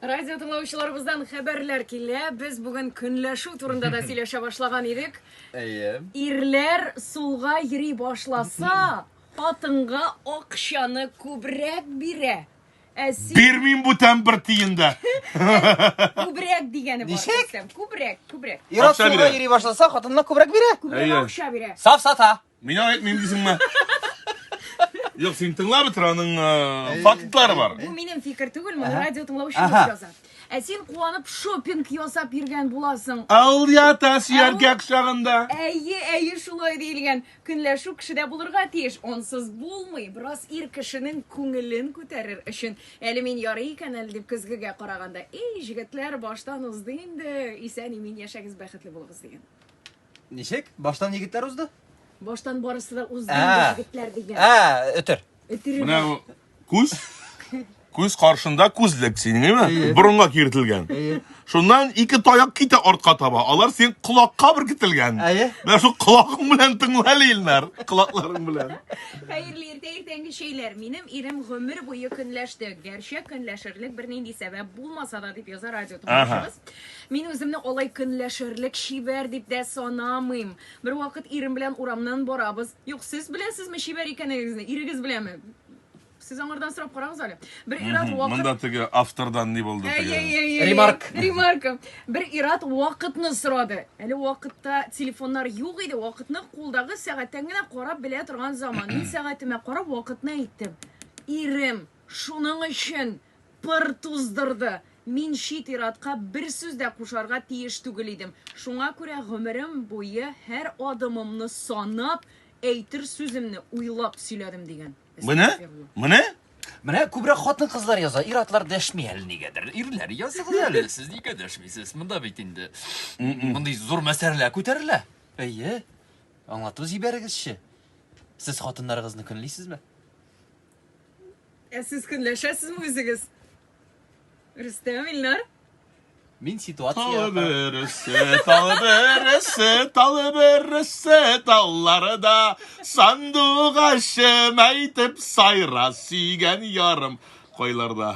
Радио тыңлаучыларыбыздан хәбәрләр килә. Без бүген көнләшү турында да сөйләшә башлаган идек. Әйе. Ирләр сулга йөри башласа, хатынга акчаны күбрәк бирә. Ә син Бирмим бүтән бер тиен дә. күбрәк дигәне бар. Ничек? Рөстәм. Күбрәк, күбрәк. Ират Акча суга бирә. йөри башласа, хатынына күбрәк бирә. Күбрәк Әйе. акча бирә. Саф сата. Мина әйтмим дисеңме? Юк, син тыңлап бетер, аның э, фактлары бар. Бу минем фикер түгел, моны радио тыңлаучы Ага. яза. Ә син куанып шопинг ясап йөргән буласың. Ал ята сөяргә кочагында. Әйе, әйе, шулай диелгән. Көнләшү кешедә булырга тиеш. Онсыз булмый. Бераз ир кешенең күңелен күтәрер өчен. Әле мин ярый икән әле дип көзгегә караганда. Эй, җегетләр, баштан узды инде. Исән имин яшәгез, бәхетле булыгыз дигән. Ничек? Баштан егетләр узды? Баштан барысы да узды Ә. егетләр дигән. Ә, өтер. Өтере Менә бар. бу күз күз каршында күзлек синеңме? Борынга киртелгән. Шуннан ике таяк китә артка таба. Алар син колакка беркетелгән. Әйе. Менә шул колакың белән тыңла әле, Илнар. Колакларың белән. Хәерле иртә иртәнге чәйләр. Минем ирем гомер буе көнләште. Гәрчә көнләшерлек бернинди сәбәп булмаса да дип яза радио тыңлаучыбыз. Мин үземне алай көнләшерлек чибәр дип тә санамыйм. Бервакыт ирем белән урамнан барабыз. Юк, сез беләсезме чибәр икәнегезне? Ирегез беләме? Сез аңардан сорап карагыз әле. Бер ир-ат вакыт Монда теге автордан ни булды Әй, әй, теге? әй, әй, Ремарк. әй, Ремарка. Бер ир-ат вакытны сорады. Әле вакытта телефоннар юк иде. Вакытны кулдагы сәгатьтән генә карап белә торган заман. Мин сәгатемә карап вакытны әйттем. Ирем, шуның өчен Пыр туздырды. Мин чит ир-атка бер сүз дә кушарга тиеш түгел идем. Шуңа күрә гомерем буе һәр адымымны санап, әйтер сүземне уйлап сөйләдем, дигән. Менә, менә! Менә күбрәк хатын-кызлар яза, ир-атлар дәшми әле нигәдер. Ирләр, языгыз әле, сез нигә дәшмисез? Монда бит инде мондый зур мәсьәләләр күтәрелә. Әйе, аңлату җибәрегезче. Сез хатыннарыгызны көнлисезме? Ә сез көнләшәсезме үзегез? Рөстәм, Илнар? Мин ситуация... Талы бересе, талы бересе, талы бересе, таллары да сандугачым әйтеп сайра сөйгән ярым койларда.